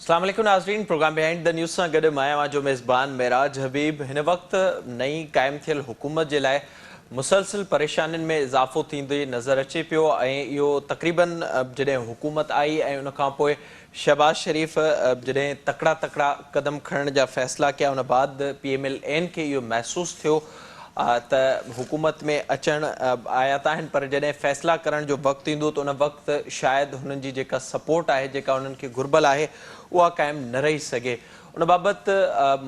اسلام عليڪم ناظرين پروگرام بهائنڊ دا نيوز سان گڏ مان اوهان جو ميزبان معراج حبيب هن وقت نئين قائم ٿيل حڪومت جي لاء مسلسل پريشانين ۾ اضافو ٿيندي نظر اچي پيو ۽ اهو تقريبن جڏهن حڪومت آئي ۽ ان کان پوء شهباز شريف جڏهن تڪڙا تڪڙا قدم کڻڻ جا فيصلا ڪيا ان بعد پي ايم ايل اين کي اهو محسوس ٿيو ته حڪومت ۾ اچڻ آيا ته آهن پر جڏهن فيصلا ڪرڻ جو وقت ايندو ته ان وقت شايد هنن جي جيڪا سپورٽ آهي جيڪا هنن کي گهربل آهي اها قائم نه رهي سگهي ان بابت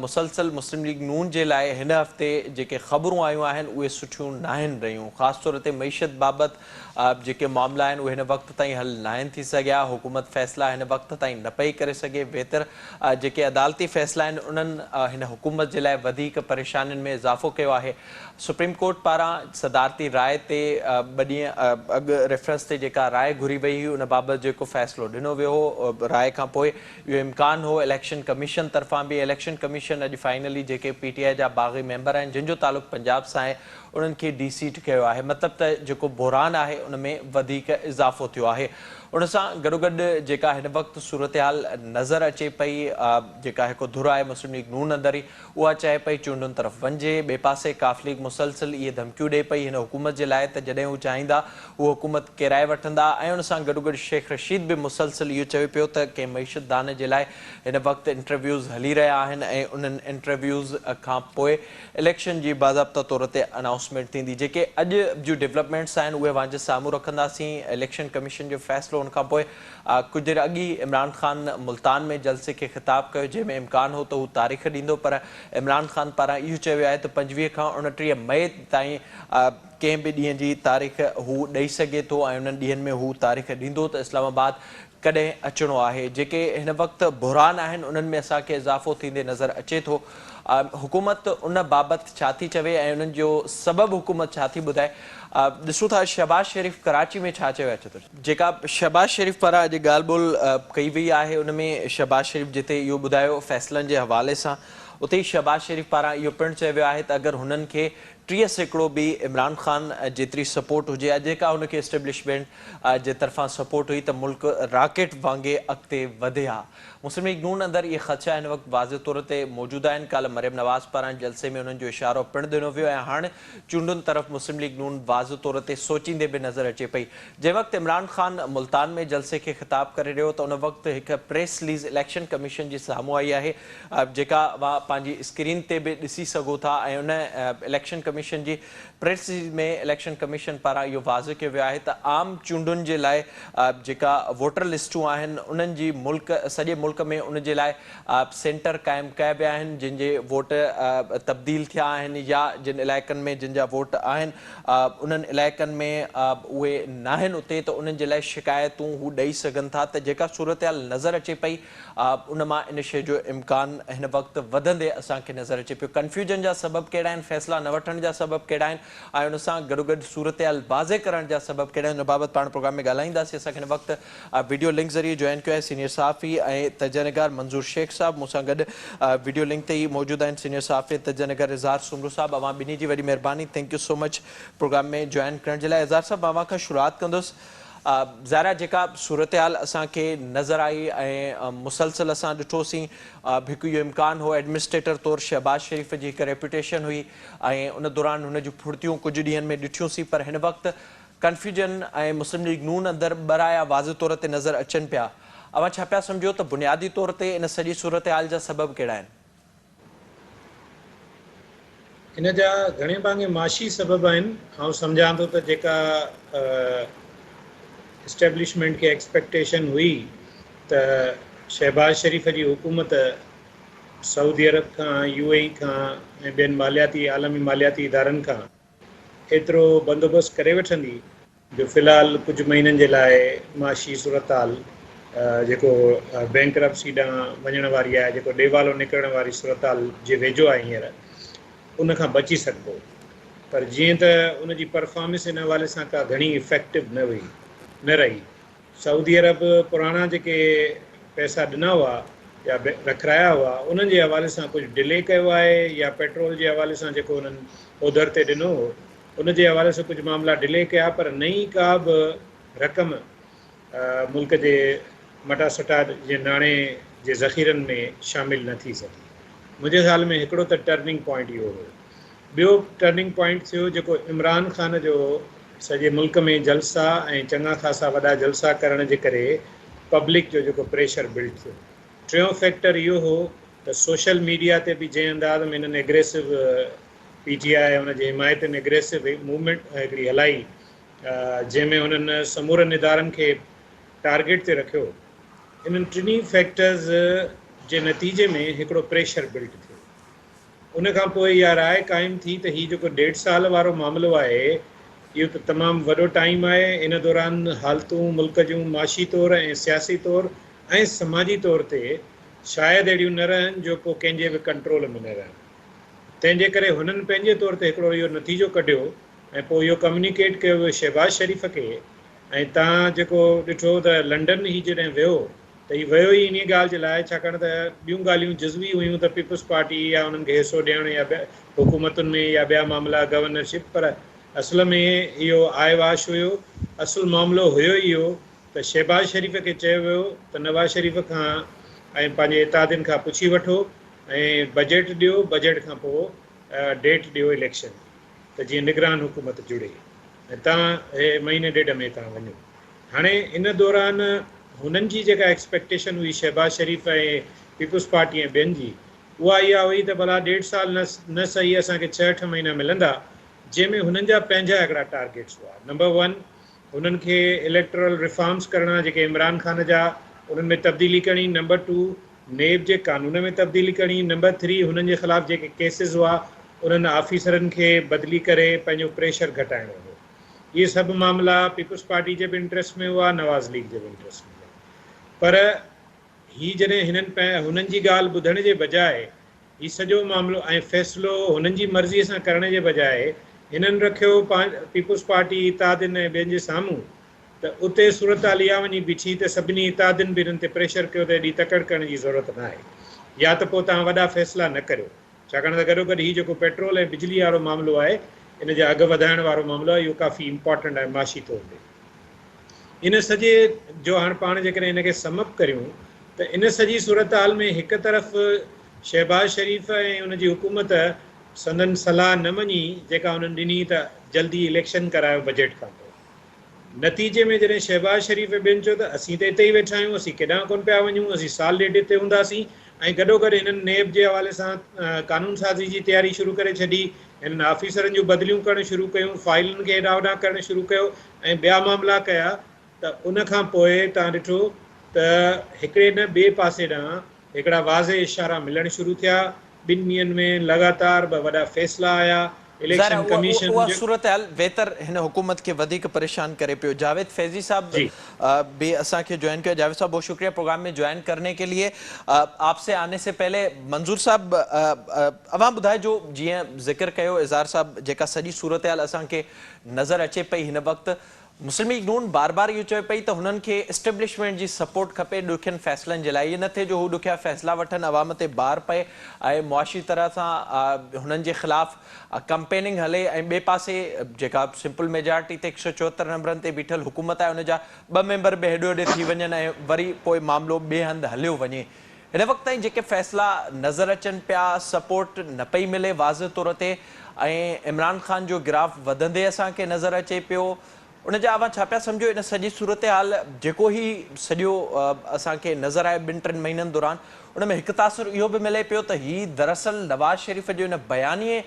مسلسل مسلم ليگ نون جي لاء هن هفتي جيڪي خبرون آيون آهن اهي سٺيون ناهن رهيون خاص طور تي معيشت بابت جيڪي معاملا آهن اهي هن وقت تائين حل ناهن ٿي سگهيا، حڪومت فيصلا هن وقت تائين نه پئي ڪري سگهي، ويتر جيڪي عدالتي فيصلا آهن انهن هن حڪومت جي لاء وڌيڪ پريشانين ۾ اضافو ڪيو آهي، سپريم ڪورٽ پاران صدارتي راء تي ٻه ڏينهن اڳ ريفرنس تي جيڪا راء گهري وئي هئي ان بابت جيڪو فيصلو ڏنو ويو هو راء کان پوء اهو امڪان هو اليڪشن ڪميشن طرفان به اليڪشن ڪميشن اڄ فائنلي جيڪي پي ٽي آء جا باغي ميمبر آهن جن جو تعلق پنجاب سان آهي انهن کي ڊي سيٽ ڪيو آهي مطلب ته جيڪو بحران آهي ان ۾ وڌيڪ اضافو ٿيو آهي ان سان گڏوگڏ جيڪا هن وقت صورتحال نظر اچي پئي جيڪا هڪ ڌر آهي مسلم ليگ نون اندر ئي اها چاهي پئي چونڊن طرف وڃجي ٻئي پاسي ق ليگ مسلسل اهي ڌمڪيون ڏئي پئي هن حڪومت جي لاء ته جڏهن هو چاهيندا هو حڪومت ڪيرائي وٺندا ۽ ان سان گڏوگڏ شيخ رشيد به مسلسل اهو چوي پيو ته ڪنهن معيشت دان جي لاء هن وقت انٽرويوز هلي رهيا آهن ۽ انهن انٽرويوز کان پوء اليڪشن جي باضابطه طور تي انائونسمينٽ ٿيندي، جيڪي اڄ جون ڊولپمينٽس آهن اهي اوهان جي سامهون رکنداسين، اليڪشن ڪميشن جو فيصلو ان کانپوء ڪجهه دير اڳ ئي عمران خان ملتان ۾ جلسي کي خطاب ڪيو جنهن ۾ امڪان هو ته هو تاريخ ڏيندو پر عمران خان پاران اهو چيو ويو آهي ته پنجويهه کان اوڻٽيهه مئي تائين ڪنهن به ڏينهن جي تاريخ هو ڏئي سگهي ٿو ۽ انهن ڏينهن ۾ هو تاريخ ڏيندو ته اسلام آباد ڪڏهن اچڻو آهي، جيڪي هن وقت بحران آهن انهن ۾ اسان کي اضافو ٿيندي نظر اچي ٿو، حڪومت ان بابت ڇا ٿي چوي ۽ انهن جو سبب حڪومت ڇا ٿي ٻڌائي، ڏسون ٿا شهباز شريف ڪراچي ۾ ڇا چيو آهي. جيڪا شهباز شريف پاران اڄ ڳالهه ٻولهه ڪئي وئي آهي ان ۾ شهباز شريف جتي اهو ٻڌايو فيصلن جي حوالي سان اتي ئي شهباز شريف پاران اهو پڻ چيو ويو آهي ته اگر هنن کي ٽيهه سيڪڙو به عمران خان جيتري سپورٽ هجي ها جيڪا هن کي اسٽيبلشمينٽ جي طرفان سپورٽ هئي ته ملڪ راڪيٽ وانگي اڳتي وڌي ها مسلم ليگ نون اندر اهي خدشا هن وقت واضح طور تي موجود آهن ڪالهه مريم نواز پاران جلسي ۾ انهن جو اشارو پڻ ڏنو ويو ۽ هاڻ چونڊن طرف مسلم ليگ نون واضح طور تي سوچيندي به نظر اچي پئي جنهن وقت عمران خان ملتان ۾ جلسي کي خطاب ڪري رهيو ته ان وقت هڪ پريس ليز اليڪشن ڪميشن جي سامهون آئي آهي جيڪا اوهان پنهنجي اسڪرين تي به ڏسي سگهو ٿا ۽ ان اليڪشن ڪميشن جي پريس رليز ۾ اليڪشن ڪميشن پاران اهو واضح ڪيو ويو آهي ته عام چونڊن جي لاء جيڪا ووٽر لسٽون آهن انهن جي ملڪ سڄي ملڪ ۾ ان جي لاء سينٽر قائم ڪيا ويا آهن جن جي ووٽ تبديل ٿيا آهن يا جن علائقن ۾ جن جا ووٽ آهن انهن علائقن ۾ اهي ناهن اتي ته انهن جي لاء شڪايتون هو ڏئي سگهن ٿا ته جيڪا صورتحال نظر اچي پئي ان مان ان شيء جو امڪان هن وقت وڌندي اسان کي نظر اچي پيو. ڪنفيوجن جا سبب ڪهڙا آهن، فيصلا نه وٺڻ جا سبب ڪهڙا آهن ۽ ان سان گڏوگڏ صورتحال واضح ڪرڻ جا سبب ڪهڙا آهن، ان بابت پاڻ پروگرام ۾ ڳالهائينداسين. اسان کي هن وقت وڊيو لنڪ ذريعي جوائن ڪيو آهي سينيئر صحافي ۽ تجزئه نگار منظور شيخ صاحب مون سان گڏ وڊيو لنڪ تي ئي موجود آهن سينيئر صحافي ۽ تجزئه نگار اظهار سومرو صاحب اوهان ٻنهي جي وڏي مهرباني thank you so much programme ۾ join ڪرڻ جي لاء اظهار صاحب مان اوهان کان شروعات ڪندس ظاهرا جيڪا صورتحال اسان کي نظر آئي ۽ مسلسل اسان ڏٺو سين هڪ اهو امڪان هو ايڊمنسٽريٽر طور شهباز شريف جي هڪ ريپوٽيشن هئي ۽ ان دوران هن جون ڦڙتيون ڪجهه ڏينهن ۾ ڏٺيون سين پر هن وقت ڪنفيوجن ۽ مسلم ليگ نون اندر ٻه رايا واضح طور تي نظر اچن پيا اوهان ڇا پيا سمجهو ته بنيادي طور تي ان سڄي صورتحال جا سبب ڪهڙا آهن؟ ان جا گهڻي ڀاڱي معاشي سبب آهن. آئون سمجهان ٿو ته جيڪا اسٽيبلشمينٽ کي ايڪسپيڪٽيشن هئي ته شهباز شريف جي حڪومت سعودي عرب کان، يو اي اي کان ۽ ٻين مالياتي عالمي مالياتي ادارن کان ايترو بندوبست ڪري وٺندي جو في الحال ڪجهه مهينن جي لاء معاشي صورتحال جيڪو بئنڪرپسي ڏانهن وڃڻ واري آهي، جيڪو ڏيوالو نڪرڻ واري صورتحال جي ويجهو آهي هينئر، ان کان بچي سگهبو. پر جيئن ته ان جي پرفارمنس ان حوالي سان ڪا گهڻي افيڪٽو نه هئي، نه رهي، سعودي عرب پراڻا جيڪي پئسا ڏنا هئا يا رکرايا هئا انهن جي حوالي سان ڪجهه ڊلي ڪيو آهي يا پيٽرول جي حوالي سان جيڪو انهن اوڌر تي ڏنو هو ان جي حوالي سان ڪجهه معاملا ڊلي ڪيا پر نئين ڪا به رقم ملڪ جي مٽاسٽا جي ناڻي جي ذخيرن ۾ شامل نه ٿي سگهي منهنجي خيال ۾ هڪڙو ته ٽرننگ پوائنٽ اهو هو ٻيو ٽرننگ پوائنٽ ٿيو جيڪو عمران خان جو هو، سڄي ملڪ ۾ جلسا ۽ چڱا خاصا وڏا جلسا ڪرڻ جي ڪري پبلڪ جو جيڪو پريشر بلڊ ٿيو. ٽيون فيڪٽر اهو هو ته سوشل ميڊيا تي به جنهن انداز ۾ هنن اگريسو پي ٽي آء ۽ ان جي حمايتين اگريسو موومينٽ هڪڙي هلائي جنهن ۾ هنن سمورن ادارن کي ٽارگيٽ تي رکيو، انهن ٽنهي فيڪٽرز جي نتيجي ۾ هڪڙو پريشر بلڊ ٿيو. ان کان پوء اها راء قائم ٿي ته هي جيڪو ڏيڍ سال وارو معاملو آهي، اهو ته تمام وڏو ٽائيم آهي، ان دوران حالتون ملڪ جون معاشي طور ۽ سياسي طور ۽ سماجي طور تي شايد اهڙيون نه رهن جو ڪو ڪنهن جي به ڪنٽرول ۾ نه رهن. تنهن جي ڪري هنن پنهنجي طور تي هڪڙو اهو نتيجو ڪڍيو ۽ پوء اهو ڪميونيڪيٽ ڪيو ويو شهباز شريف کي ۽ تان جيڪو ڏٺو ته لنڊن هي جڏهن ويو ته هي ويو ئي انهيء ڳالهه جي لاء ڇاڪاڻ ته ٻيون ڳالهيون جزوي هيون ته پيپلز پارٽي يا انهن کي حصو ڏيڻ يا حڪومتن ۾ يا ٻيا معاملا گورنر شپ پر اصل ۾ اهو آئي واش هيو اصل معاملو هيو ئي اهو ته شهباز شريف کي چيو ويو ته نواز شريف کان ۽ پنهنجي اتحادين کان پڇي وٺو ۽ بجيٽ ڏيو بجيٽ کان پوء ڊيٽ ڏيو اليڪشن ته جيئن نگران حڪومت جڙي ۽ تان هي مهيني ڏيڍ ۾ تان وڃو هاڻي ان دوران هنن جي جيڪا ايڪسپيڪٽيشن هئي شهباز شريف ۽ پيپلز پارٽي ۽ ٻين جي اها اها هئي ته ڀلا ڏيڍ سال نه نه سهي اسان کي ڇهه اٺ مهينا ملندا جنهن ۾ هنن جا پنهنجا هڪڙا ٽارگيٽس هئا نمبر ون هنن کي اليڪٽورل ريفارمز ڪرڻا جيڪي عمران خان جا انهن ۾ تبديلي ڪرڻي نمبر ٽو نيب جي قانون ۾ تبديلي ڪرڻي نمبر ٿري هنن جي خلاف جيڪي ڪيسز هئا انهن آفيسرن کي بدلي ڪري پنهنجو پريشر گهٽائڻو هو. اهي سڀ معاملا پيپلز پارٽي جي به انٽريسٽ ۾ هئا، نواز ليگ جي به انٽريسٽ ۾ هئا پر هي جڏهن هنن هنن جي ڳالهه ٻڌڻ جي بجاء هي سڄو معاملو ۽ فيصلو هنن جي مرضي سان ڪرڻ جي بجاء هنن رکيو پيپلز پارٽي اتحادين ۽ ٻين جي سامهون ته اتي صورتحال اها وڃي بيٺي ته سڀني اتحادين به هنن تي پريشر ڪيو ته ايڏي تڪڙ ڪرڻ جي ضرورت ناهي يا ته پوء توهان وڏا فيصلا نه ڪريو. ڇاڪاڻ ته گڏوگڏ هي جيڪو پيٽرول ۽ بجلي وارو معاملو آهي ان جا اگهه وڌائڻ وارو معاملو آهي اهو ڪافي امپارٽنٽ آهي معاشي طور تي ان سڄي جو هاڻ پاڻ جيڪڏهن ان کي سمپ ڪريون ته ان سڄي صورتحال ۾ هڪ طرف شهباز شريف ۽ ان جي حڪومت سندن صلاح نه مڃي جيڪا انهن ڏني ته جلدي اليڪشن ڪرايو بجيٽ کانپوء نتيجي ۾ جڏهن شهباز شريف ۽ ٻين چيو ته اسين ته اتي ئي ويٺا آهيون، اسين ڪيڏانهن ڪونه پيا وڃون، اسين سال ڏيڍ اتي هونداسين ۽ گڏوگڏ هنن نيب جي حوالي سان قانون سازي جي تياري شروع ڪري ڇڏي، هنن آفيسرن جون بدليون ڪرڻ شروع ڪيون، فائلن کي هيڏانهن هوڏانهن ڪرڻ شروع ڪيو ۽ ٻيا معاملا ڪيا ته ان کانپوء توهان ڏٺو ته هڪڙي نه ٻئي پاسي ڏانهن هڪڙا واضح اشارا ملڻ شروع ٿيا، ٻن ڏينهن ۾ لڳاتار ٻه وڏا فيصلا آيا، ظاهر آهي اليڪشن اها ڪميشن اها جي. صورتحال ويتر هن حڪومت کي وڌيڪ پريشان ڪري پيو. جاويد فيضي صاحب جي. به اسان کي جوائن ڪيو آهي. جاويد صاحب بهت شڪريه پروگرام ۾ جوائن ڪرني ڪي ليي. آپ سي آني سي پهلي منظور صاحب اوهان ٻڌائجو جيئن ذڪر ڪيو اظهار صاحب جيڪا سڄي صورتحال اسان کي نظر اچي پئي هن وقت مسلم ليگ نون بار بار اهو چوي پئي ته هنن کي اسٽيبلشمينٽ جي سپورٽ کپي ڏکين فيصلن جي لاء اهو نه ٿئي جو هو ڏکيا فيصلا وٺن عوام تي بار پئي ۽ معاشي طرح سان هنن جي خلاف ڪمپيننگ هلي ۽ ٻئي پاسي جيڪا سمپل ميجارٽي تي هڪ سؤ چوهتر نمبرن تي بيٺل حڪومت آهي ان جا ٻه ميمبر به هيڏي هوڏي ٿي وڃن ۽ وري پوء معاملو ٻئي هنڌ هليو وڃي هن وقت تائين جيڪي فيصلا نظر اچن پيا سپورٽ نه پئي ملي واضح طور تي ۽ عمران خان جو گراف وڌندي اسان کي نظر اچي پيو ان جا اوهان ڇا پيا سمجهو ان سڄي صورتحال جيڪو هي سڄو اسان کي نظر آيو ٻن ٽن مهينن دوران ان ۾ هڪ تاثر اهو به ملي پيو ته هي دراصل نواز شريف جي ان بيانيي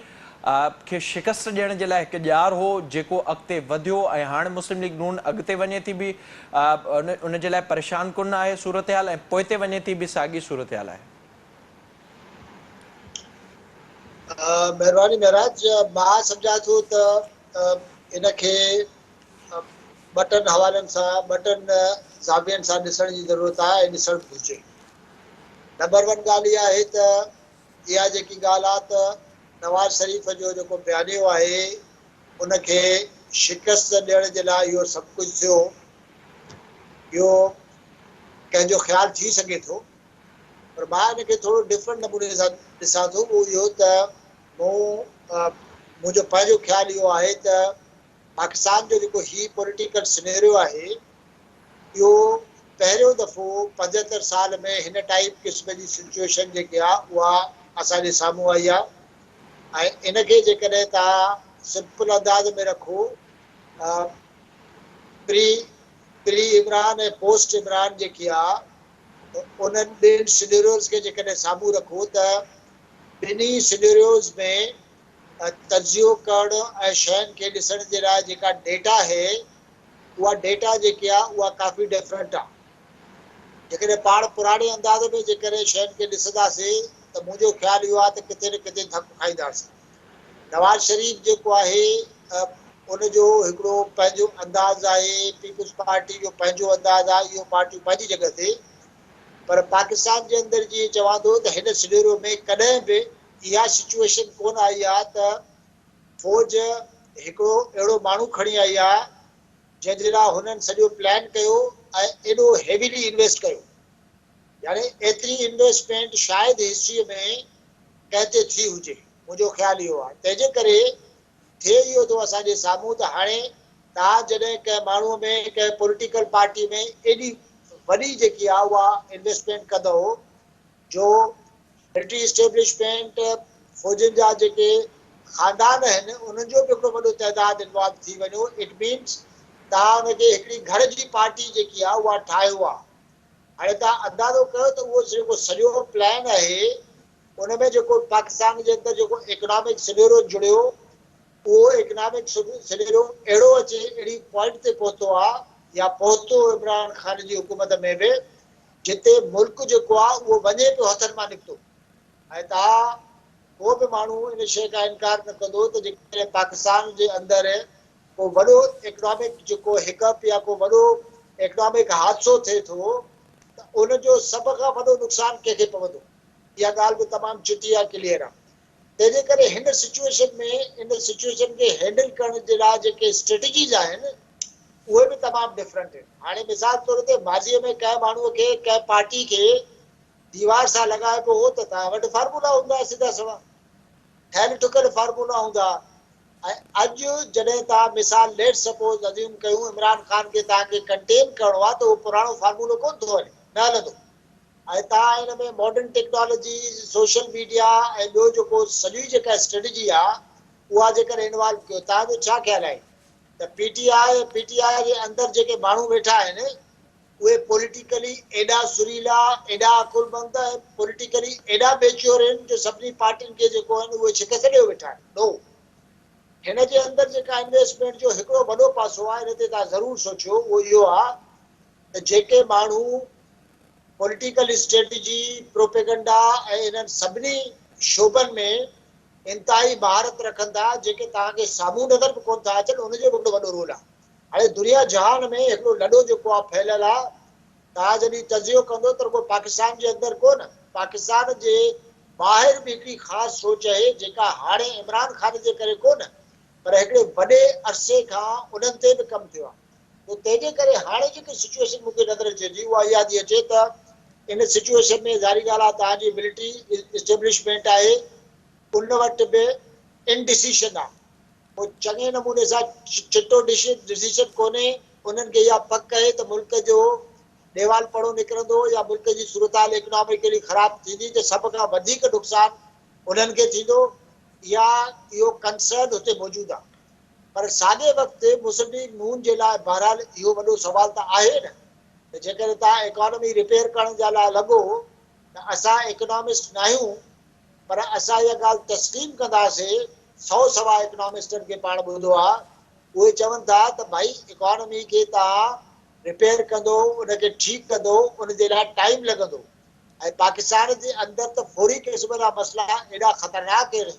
کي شڪست ڏيڻ جي لاء هڪ ڄار هو جيڪو اڳتي وڌيو ۽ هاڻ مسلم ليگ نون اڳتي وڃي ٿي به ان جي لاء پريشان ڪن آهي صورتحال ۽ پوئتي وڃي ٿي به ساڳي صورتحال آهي. مهرباني مهراج مان سمجهان ٿو ته ان کي ٻه ٽن حوالن سان ٻه ٽن زاوين سان ڏسڻ جي ضرورت آهي ۽ ڏسڻ به گهرجي نمبر ون ڳالهه اها آهي ته اها جيڪي ڳالهه آهي ته نواز شريف جو جيڪو بيانيو آهي ان کي شڪست ڏيڻ جي لاء اهو سڀ ڪجهه ٿيو. اهو ڪنهن جو خيال ٿي سگهي ٿو پر مان ان کي ٿورو ڊفرنٽ نموني سان ڏسان ٿو اهو اهو ته مون منهنجو پنهنجو خيال اهو آهي ته پاڪستان جو جيڪو هي پوليٽيڪل سنيريو آهي اهو پهريون دفعو پنجهتر سال ۾ هن ٽائيپ قسم جي سچويشن جيڪي آهي اها اسان جي سامهون آئي آهي ۽ ان کي جيڪڏهن توهان سمپل انداز ۾ رکو ته پري پري عمران ۽ پوسٽ عمران جيڪي آهي انهن ٻن سنيريوز کي جيڪڏهن سامهون رکو ته ٻنهي سنيريوز ۾ تجزيو ڪرڻ ۽ شين کي ڏسڻ جي لاء جيڪا ڊيٽا هي اها ڊيٽا جيڪي آهي اها ڪافي ڊفرنٽ آهي. جيڪڏهن پاڻ پراڻي انداز ۾ جي ڪڏهن شين کي ڏسنداسين ته منهنجو خيال اهو آهي ته ڪٿي نه ڪٿي ڌڪ کائينداسين. نواز شريف جيڪو آهي ان جو هڪڙو پنهنجو انداز آهي، پيپلز پارٽي جو پنهنجو انداز آهي، اهو پارٽيون پنهنجي جڳهه تي پر پاڪستان جي اندر جيئن چوان ٿو ته هن سنيريو ۾ ڪڏهن به اها سچوئيشن ڪونه آئي آهي ته فوج هڪڙو اهڙو ماڻهو کڻي آئي آهي، جنهن لاء هنن سڄو پلان ڪيو ۽ ايڏو هيويلي انويسٽ ڪيو يعني ايتري انويسٽمينٽ شايد هسٽري ۾ ڪنهن تي ٿي هجي منهنجو خيال اهو آهي تنهنجي ڪري ٿئي اهو ٿو اسان جي سامهون ته هاڻي توهان جڏهن ڪنهن ماڻهو ۾ ڪنهن پوليٽيڪل پارٽي ۾ ايڏي وڏي جيڪي آهي اها انويسٽمينٽ ڪندئو جو ملٽري اسٽيبلشمينٽ، فوجين جا جيڪي خاندان آهن انهن جو به هڪڙو وڏو تعداد انوالو ٿي وڃو اٽ مينس توهان ان کي هڪڙي گهر جي پارٽي جيڪي آهي اها ٺاهيو آهي. هاڻي توهان اندازو ڪيو ته اهو جيڪو سڄو پلان آهي ان ۾ جيڪو پاڪستان جي اندر جيڪو اڪنامڪ سنيرو جڙيو اهو اڪنامڪ سنيرو اهڙو اچي اهڙي پوائنٽ تي پهتو آهي يا پهتو عمران خان جي حڪومت ۾ به جتي ملڪ جيڪو آ اهو وڃي پيو هٿن مان نڪتو ۽ ته ها ڪو به ماڻهو ان شيء کان انڪار نه ڪندو ته جيڪڏهن پاڪستان جي اندر ڪو وڏو ايڪنامڪ جيڪو هڪپ يا ڪو وڏو ايڪنامڪ حادثو ٿئي ٿو ته ان جو سڀ کان وڏو نقصان ڪنهن کي پوندو اها ڳالهه به تمام چٽي ۽ ڪليئر آ تنهنجي ڪري هن سچوئيشن ۾ ان سچوئيشن کي هينڊل ڪرڻ جي لاء جيڪي اسٽريٽجيز آهن اهي به تمام ڊفرنٽ آهن. هاڻي مثال طور تي ماضيء ۾ ڪنهن ماڻهوء کي ڪنهن پارٽي کي ديوار سان لڳائبو هو ته تنهن وٽ فارمولا هوندا هئا سڌا سوا ٺهيل ٺڪيل فارمولا هوندا هئا ۽ اڄ جڏهن توهان مثال ليٽس سپوز ازيوم ڪيون عمران خان کي توهان کي ڪنٽين ڪرڻو آهي ته اهو پراڻو فارمولو ڪونه ٿو هلي نه هلندو. ۽ تان ان ۾ ماڊرن ٽيڪنالاجيز، سوشل ميڊيا ۽ ٻيو جيڪو سڄي جيڪا اسٽريٽجي آ اها جيڪر انوالو ڪيو تان جو ڇا خيال آهي ته P T I ۽ P T I جي اندر جيڪي ماڻهو ويٺا آهن اهي پوليٽيڪلي ايڏا سريلا ايڏا عقلمند ۽ پوليٽيڪلي ايڏا ميچيور آهن جو سڀني پارٽين کي جيڪو آهن اهي شڪست ڏيو ويٺا آهن نو هن جي اندر جيڪا انويسٽمينٽ جو هڪڙو وڏو پاسو آ ان تي تان ضرور سوچيو اهو اهو آ ته جيڪي ماڻهو پوليٽيڪل اسٽريٽجي، پروپيگنڊا ۽ انهن سڀني شعبن ۾ انتهائي مهارت رکن ٿا، جيڪي توهان کي سامهون نظر به ڪونه ٿا اچن، ان جو به هڪڙو وڏو رول آهي. هاڻي دنيا جهان ۾ هڪڙو لڏو جيڪو آهي ڦهليل آهي، توهان جڏهن تجزيو ڪندو ته رڳو پاڪستان جي اندر ڪونه، پاڪستان جي ٻاهر به هڪڙي خاص سوچ اهي، جيڪا هاڻي عمران خان جي ڪري ڪونه، پر هڪڙي وڏي عرصي کان انهن تي به ڪم ٿيو آهي. پوء تنهنجي ڪري هاڻي جيڪي سچوئيشن مون کي نظر اچي ٿي اها اها ٿي اچي ته ان سچوئيشن ۾ ظاهري ڳالهه آهي توهان جي ملٽري اسٽيبلشمينٽ آهي ان وٽ به ان ڊسيشن آهي پوء چڱي نموني سان چٽو ڊسيشن ڪونهي انهن کي اها پڪ آهي ته ملڪ جو ڏيوال پڙو نڪرندو يا ملڪ جي صورتحال ايڪناميڪلي خراب ٿيندي ته سڀ کان وڌيڪ نقصان انهن کي ٿيندو يا اهو ڪنسرن هتي موجود آهي پر ساڳئي وقت مسلم ليگ نون جي لاء بهرحال اهو وڏو سوال ته آهي نه ته جيڪڏهن توهان ايڪانامي ريپيئر ڪرڻ جي لاء لڳو ته اسان ايڪانامسٽ ناهيون پر اسان اها ڳالهه تسليم ڪنداسين سو سوا ايڪانامسٽن کي پاڻ ٻڌو آهي اهي چون ٿا ته ڀائي ايڪانامي کي توهان ريپيئر ڪندو ان کي ٺيڪ ڪندو ان جي لاء ٽائيم لڳندو ۽ پاڪستان جي اندر ته فوري قسم جا مسئلا ايڏا خطرناڪ آهن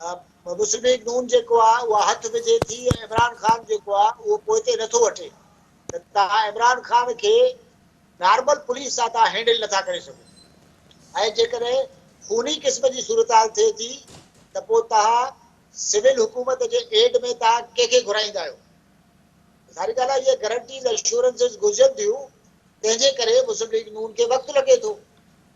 مسلم ليگ نون جيڪو آ اها هٿ وجهي ٿي ۽ عمران خان جيڪو آ اهو پوئتي نٿو وٺي ته توهان عمران خان کي نارمل پوليس سان توهان هينڊل نٿا ڪري سگهو ۽ جيڪڏهن خوني قسم جي صورتحال ٿئي ٿي ته پوء توهان سول حڪومت جي ايڊ ۾ توهان ڪنهن کي گهرائيندا آهيو ظاهري ڳالهه آ اهي گرنٽيز اشورنسز گهرجن ٿيون تنهن جي ڪري مسلم ليگ نون کي وقت لڳي ٿو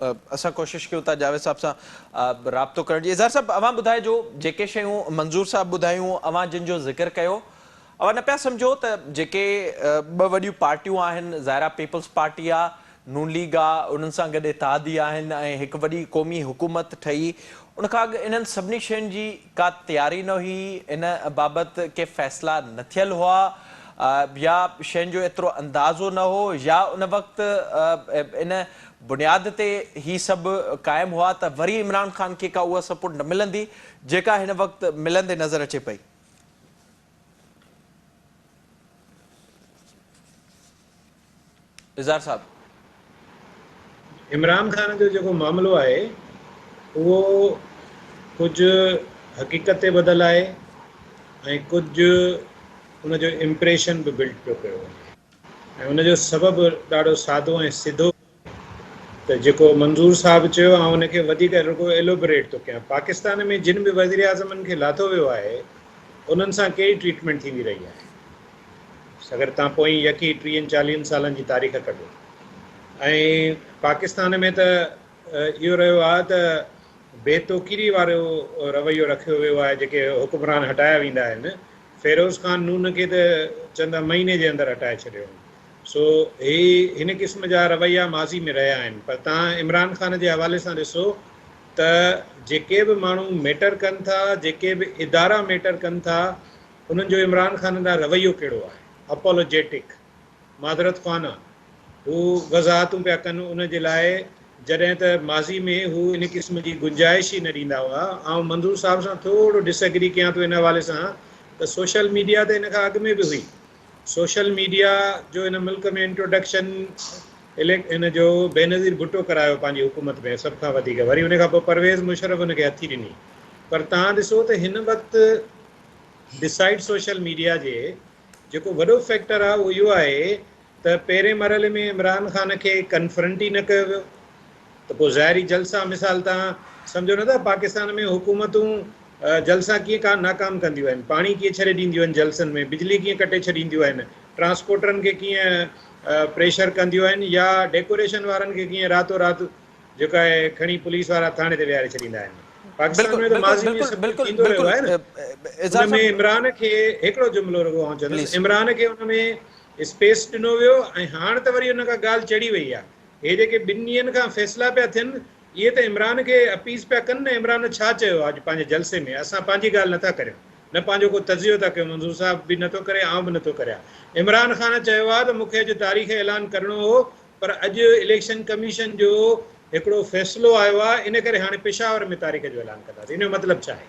اسان ڪوشش ڪيون ٿا جاويد صاحب سان رابطو ڪرڻ جي اظهار صاحب اوهان ٻڌائجو جيڪي شيون منظور صاحب ٻڌايون اوهان جن جو ذڪر ڪيو اوهان نه پيا سمجھو ته جيڪي ٻه وڏيون پارٽيون آهن ظاهرا پيپلز پارٽي آ نون ليگ آء انهن سان گڏ اتحادي آهن ۽ هڪ وڏي قومي حڪومت ٺهي. ان کان اڳ انهن سڀني شين جي ڪا تياري نه هئي، ان بابت ڪي فيصلا نه ٿيل هئا يا شين جو ايترو اندازو نه هو يا ان وقت ان بنياد تي هي سڀ قائم هئا ته وري عمران خان کي ڪا اها سپورٽ نه ملندي جيڪا هن وقت ملندي نظر اچي پئي. اظهار صاحب. عمران خان جو جيڪو معاملو آهي اهو ڪجهه حقيقت تي ٻڌل آهي ۽ ڪجهه ان جو امپريشن به بلڊ پيو ڪيو وڃي ۽ ان جو سبب ڏاڍو سادو ۽ سڌو ته جيڪو منظور صاحب چيو آئون ان کي وڌيڪ رڳو ايلوبريٽ ٿو ڪيان پاڪستان ۾ جن به وزيراعظمن کي لاٿو ويو آهي انهن سان ڪهڙي ٽريٽمينٽ ٿيندي رهي آهي اگر تان پوئين يڪي ٽيهن چاليهن سالن جي تاريخ ڪڍو ۽ پاڪستان ۾ ته اهو رهيو آهي ته بي توقيري وارو رويو رکيو ويو آهي جيڪي حڪمران هٽايا ويندا آهن فيروز خان نون کي ته چند مهيني جي اندر هٽائي ڇڏيو سو هي هن قسم جا رويا ماضي ۾ رهيا آهن پر توهان عمران خان جي حوالي سان ڏسو ته جيڪي به ماڻهو ميٽر ڪن ٿا جيڪي به ادارا ميٽر ڪن ٿا انهن جو عمران خان ڏانهن رويو ڪهڙو آهي اپولوجيٽڪ معذرت خوانه هو وضاحتون پيا ڪن ان جي لاء جڏهن ته ماضي ۾ هو ان قسم جي گنجائش ئي نه ڏيندا هئا آئون منظور صاحب سان ٿورو ڊس ايگري ڪيان ٿو ان حوالي سان ته سوشل ميڊيا ته ان کان اڳ ۾ به هئي سوشل ميڊيا جو ان ملڪ ۾ انٽروڊڪشن اليڪ ان جو بينظير ڀٽو ڪرايو پنهنجي حڪومت ۾ سڀ کان وڌيڪ وري ان کان پوء پرويز مشرف ان کي هٿي ڏني پر تان ڏسو ته هن وقت ڊسائيڊ سوشل ميڊيا جي جيڪو وڏو فيڪٽر آهي اهو اهو آهي ته پهرين مرحلي ۾ عمران خان کي ڪنفرنٽ ئي نه ڪيو ويو ته پوء ظاهري جلسا مثال توهان سمجهو نه ته پاڪستان ۾ حڪومتون جلسا ڪيئن ڪا ناڪام ڪنديون آهن پاڻي ڪيئن ڇڏي ڏينديون آهن جلسن ۾ بجلي ڪيئن ڪٽي ڇڏينديون آهن ٽرانسپورٽرن کي ڪيئن پريشر ڪنديون آهن يا ڊيڪوريشن وارن کي ڪيئن راتو رات جيڪو آهي کڻي پوليس وارا ٿاڻي تي ويهاري ڇڏيندا آهن پاڪستان ۾ ته ماضي ۾ سڀ ڪجهه ٿيندو رهيو آهي نه ان ۾ عمران کي هڪڙو جملو رڳو آئون چوندس عمران کي ان ۾ اسپيس ڏنو ويو ۽ هاڻ ته وري ان کان ڳالهه چڙهي وئي آهي هي جيڪي ٻن ڏينهن کان فيصلا پيا ٿين اهي ته عمران کي اپيز پيا ڪن نه عمران ڇا چيو آهي اڄ پنهنجي جلسي ۾ اسان پنهنجي ڳالهه نٿا ڪريون نه پنهنجو ڪو تجزيو ٿا ڪيون منظور صاحب به نٿو ڪري آئون به نٿو ڪريان عمران خان چيو آهي ته مون کي اڄ تاريخ اعلان ڪرڻو هو پر اڄ اليڪشن ڪميشن جو هڪڙو فيصلو آيو آهي ان ڪري هاڻي پشاور ۾ تاريخ جو اعلان ڪنداسين ان جو مطلب ڇا آهي.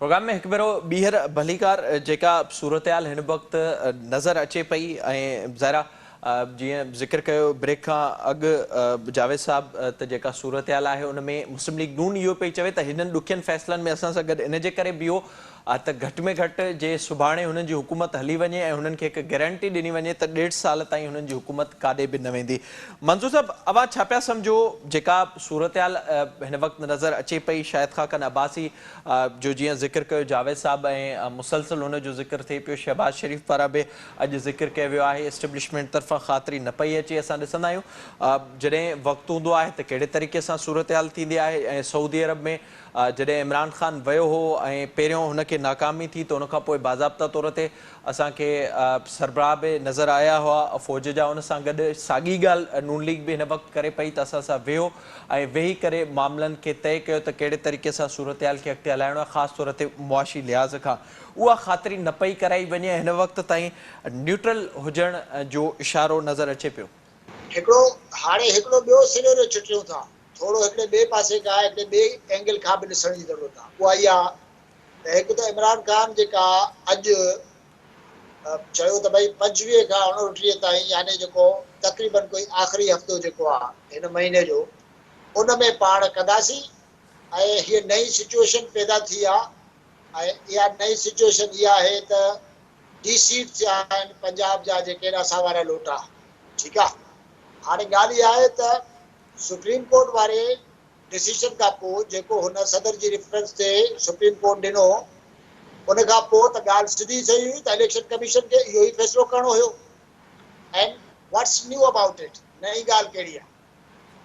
پروگرام ۾ هڪ ڀيرو ٻيهر ڀليڪار جيڪا صورتحال هن وقت نظر اچي پئي ۽ ظاهر جيئن ذڪر ڪيو بريڪ کان اڳ جاويد صاحب ته جيڪا صورتحال آهي ان ۾ مسلم ليگ نون اهو پئي چوي ته هنن ڏکين فيصلن ۾ اسان سان گڏ ان جي ڪري بيهو ته گهٽ ۾ گهٽ جي سڀاڻي هنن جي حڪومت هلي وڃي ۽ هنن کي هڪ گيرنٽي ڏني وڃي ته ڏيڍ سال تائين هنن جي حڪومت ڪاڏي به نه ويندي منظور صاحب اوهان ڇا پيا سمجهو جيڪا صورتحال هن وقت نظر اچي پئي شاهد خاقان عباسي جو جيئن ذڪر ڪيو جاويد صاحب ۽ مسلسل هن جو ذڪر ٿئي پيو شهباز شريف پاران به اڄ ذڪر ڪيو ويو آهي اسٽيبلشمينٽ طرفان خاطري نه پئي اچي اسان ڏسندا آهيون جڏهن وقت هوندو آهي ته ڪهڙي طريقي سان صورتحال ٿيندي آهي ۽ سعودي عرب ۾ جڏهن عمران خان ويو هو ۽ پهريون هن کي ناڪامي ٿي ته ان کان پوء باضابطا طور تي اسان کي سربراهه به نظر آيا هئا فوج جا ان سان گڏ ساڳي ڳالهه نون ليگ به هن وقت ڪري پئي ته اسان سان ويهو ۽ ويهي ڪري معاملن کي طئي ڪيو ته ڪهڙي طريقي سان صورتحال کي اڳتي هلائڻو آهي خاص طور تي معاشي لحاظ کان اها خاطري نه پئي ڪرائي وڃي هن وقت تائين نيوٽرل هجڻ جو اشارو نظر اچي پيو. هڪڙو هاڻي هڪڙو ٻيو سينيريو چٽيون ٿا ٿورو هڪڙي ٻئي پاسي کان هڪڙي ٻئي اينگل کان به ڏسڻ جي ضرورت آ اها اها ته هڪ ته عمران خان جيڪا اڄ چيو ته ڀئي پنجويهه کان اڻوٽيهه تائين يعني جيڪو تقريبن ڪوئي آخري هفتو جيڪو آ هن مهيني جو ان ۾ پاڻ ڪنداسين ۽ هيء نئين سچوئيشن پيدا ٿي آ ۽ اها نئين سچوئيشن اها آهي ته ڊي سيٽ ٿيا آهن پنجاب جا جيڪي ايڏا ساوارا لوٽا ٺيڪ آ هاڻي ڳالهه اها آهي ته سپريم ڪورٽ واري ڊسيشن کان پو جيڪو هن صدر جي ريفرنس تي سپريم ڪورٽ ڏنو ان کان پو ته ڳالهه سڌي ٿئي هئي ته اليڪشن ڪميشن کي اهو ئي فيصلو ڪرڻو هيو and what's new about it نئين ڳالهه ڪهڙي آ.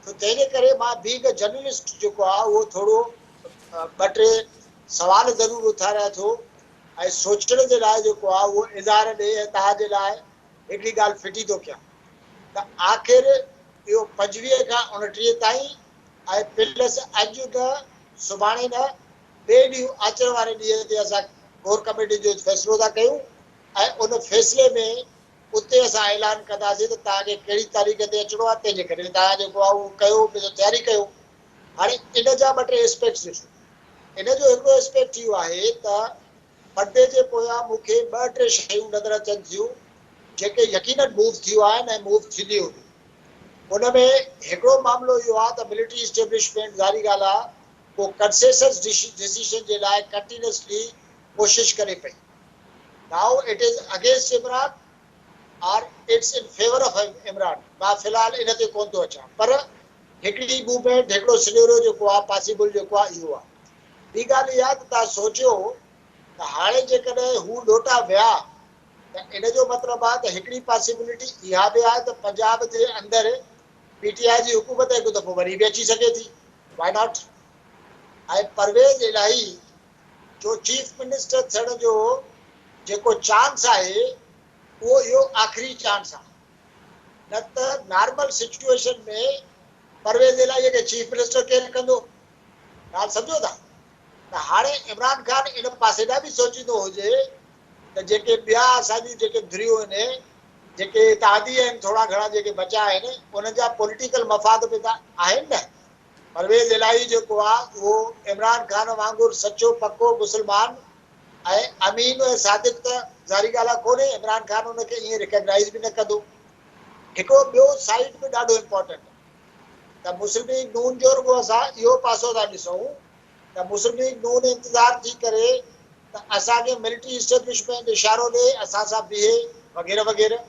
ته تنهنجي ڪري مان بينگ جرنلسٽ جيڪو آهي اهو ٿورو ٻه ٽي سوال ضرور اٿاريان ٿو ۽ سوچڻ جي لاء جيڪو آهي اهو اظهار ڏئي ۽ توهان جي لاء هڪڙي ڳالهه ڦٽي ٿو ڪيان ته آخر اهو پنجويهه کان اڻٽيهه تائين ۽ پلس اڄ نه سڀاڻي نه ٻئي ڏينهن آچر واري ڏينهن تي اسان ڪور ڪميٽي جو فيصلو ٿا ڪيون ۽ ان فيصلي ۾ اتي اسان اعلان ڪنداسين ته توهان کي ڪهڙي تاريخ تي اچڻو آهي تنهنجي ڪري توهان جيڪو آهي اهو ڪيو پنهنجو تياري ڪيو هاڻي ان جا ٻه ٽي اسپيڪٽس ڏسو ان جو هڪڙو اسپيڪٽ اهو آهي ته پردي جي پويان مون کي ٻه ٽي شيون نظر اچن ٿيون جيڪي يقينن موو ٿيون آهن ۽ موو ٿينديون هونديون ان ۾ هڪڙو معاملو اهو آهي ته ملٽري اسٽيبلشمينٽ ظاهري ڳالهه آهي ڪو ڪنسيسس ڊسيشن جي لاء ڪنٽينسلي ڪوشش ڪري پئي Now it is against Imran or it's in favour of Imran مان في الحال ان تي ڪونه ٿو اچان پر هڪڙي موومينٽ هڪڙو سنيريو جيڪو آهي پاسيبل جيڪو آهي اهو آهي ٻي ڳالهه اها ته توهان سوچيو ته هاڻي جيڪڏهن هو لوٽا ويا ته ان جو مطلب آهي ته هڪڙي پاسيبلٽي اها به آهي ته پنجاب جي اندر پي ٽي آء جي حڪومت هڪ دفعو وري به اچي سگهي ٿي واء ناٽ ۽ پرويز الاهي جو چيف منسٽر ٿيڻ جو جيڪو چانس آهي اهو اهو آخري چانس آهي نه ته نارمل سچوئيشن ۾ پرويز الاهي کي چيف منسٽر ڪير ڪندو ڳالهه سمجهو ٿا ته هاڻي عمران خان ان پاسي ڏانهن به سوچيندو هجي ته جيڪي ٻيا اسان جون جيڪي ڌريون آهن جيڪي اتحادي آهن ٿورا گهڻا جيڪي بچا آهن انهن جا پوليٽيڪل مفاد به ته آهن نه پرويز الاهي جيڪو آ اهو عمران خان وانگر سچو پڪو مسلمان ۽ امين ۽ صادق ته ظاهري ڳالهه آ ڪونهي عمران خان ان کي ائين ريڪگنائيز به نه ڪندو هڪڙو ٻيو سائيڊ به ڏاڍو امپارٽنٽ ته مسلم ليگ نون جو رڳو اسان اهو پاسو ٿا ڏسون ته مسلم ليگ نون انتظار ٿي ڪري ته اسان کي ملٽري اسٽيبلشمينٽ اشارو ڏي اسان سان بيهي وغيره وغيره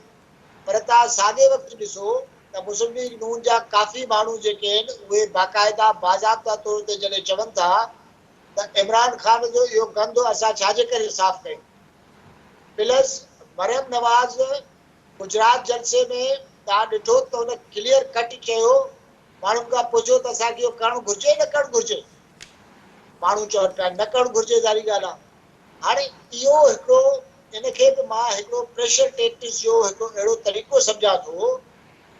پر تان ساڳئي وقت ڏسو ته مسلم ليگ نون جا ڪافي ماڻهو جيڪي آهن اهي باقاعده باضابطه طور تي جڏهن چون ٿا ته عمران خان جو اهو گند اسان ڇا جي ڪري صاف ڪيون پلس مريم نواز گجرات جلسي ۾ تان ڏٺو ته ان ڪليئر ڪٽ چيو ماڻهن کان پڇو ته اسان کي اهو ڪرڻ گهرجي نه ڪرڻ گهرجي ماڻهو چون پيا نه ڪرڻ گهرجي ظاهري ڳالهه آهي هاڻي اهو هڪڙو ان کي به مان هڪڙو پريشر ٽيڪٽس جو هڪڙو اهڙو طريقو سمجهان ٿو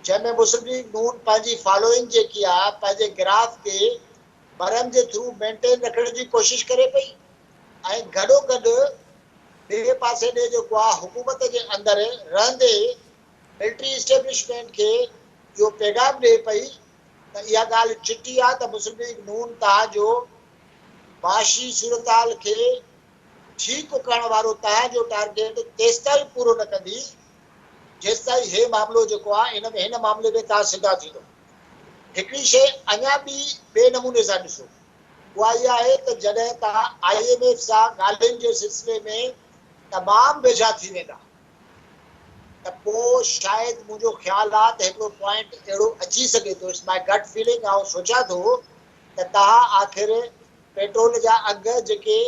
جنهن ۾ مسلم ليگ نون پنهنجي فالوئنگ جيڪي آ پنهنجي گراف کي برهم جي ٿرو مينٽين رکڻ جي ڪوشش ڪري پئي ۽ گڏو گڏ ٻئي پاسي ڏي جيڪو آ حڪومت جي اندر رهندي ملٽري اسٽيبلشمينٽ کي اهو پيغام ڏي پئي ته اها ڳالهه چٽي آ ته مسلم ليگ نون توهان جو معاشي صورتحال کي ٺيڪ ڪرڻ وارو توهان جو ٽارگيٽ تيستائين پورو نه ڪندي جيستائين هي معاملو جيڪو آهي ان هن معاملي ۾ توهان سڌا ٿيندو. هڪڙي شيء اڃا ٻي ٻئي نموني سان ڏسو اها هي آهي ته جڏهن توهان آء ايم ايف سان ڳالهين جي سلسلي ۾ تمام ويجها ٿي ويندا ته پوء شايد منهنجو خيال آهي ته هڪڙو پوائنٽ اهڙو اچي سگهي ٿو It's my gut feeling آئون سوچيان ٿو ته تها آخر پيٽرول جا اگهه جيڪي